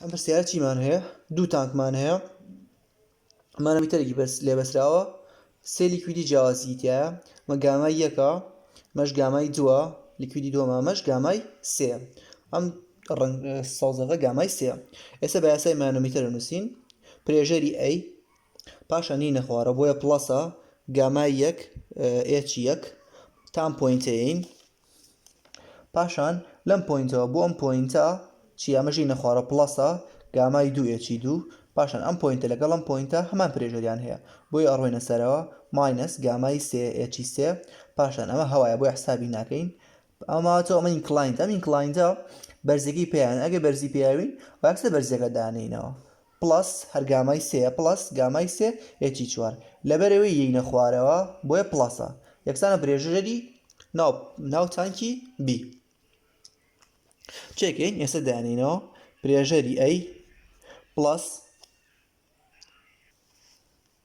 ئەم پرسیارە چیمان هەیە دوو تانکمان هەیە مانەمیتەرێکی بەس لێ بەسراوە سێ لیکویدی جیاوازی تایە مە گامای یەکە مەش گامای دووە لیکویدی دووەمە مەش گامای سێ ئەم ڕنگ سەوزەکە گامای سێ ئێستا بە یاسای مانەمیتەر نووسین پرێژەری ئەی پاشان نی نەخوارە بۆیە پڵەسە گامای یەک ئێچ یەک تام پوینتین پاشان لەم پۆینتەوە بۆ ئەم پۆینتە چی ئەمە ژینە خوارە پڵەسە گامای دوو ئێچی دوو پاشان ئەم پۆینتە لەگەڵ ئەم پۆینتە هەمان پرێژەریان هەیە بۆی ئەڕۆینە سەرەوە ماینەس گامای سێ ئێچی سێ پاشان ئەمە هەوایە بۆی حسابی ناکەین ئەماتۆ ئەمە ئینکلاینت ئەم ئینکلاینتە بەرزەکەی پێیان ئەگەر بەرزی پێیاوین واکسە بەرزەکە دانینەوە پڵەس هەر گامای سێیە پڵەس گامای سێ یەکی چوار لەبەرەوەی یەینە خوارەوە بۆیە پڵەسە یەکسانە برێژرەری ناو ناو تانکی بی چێکین ئێستا دانینەوە برێژەری ئەی پڵەس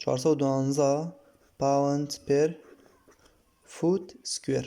چوار سەد و دوانزە پاوەند پێر فووت سکوێر.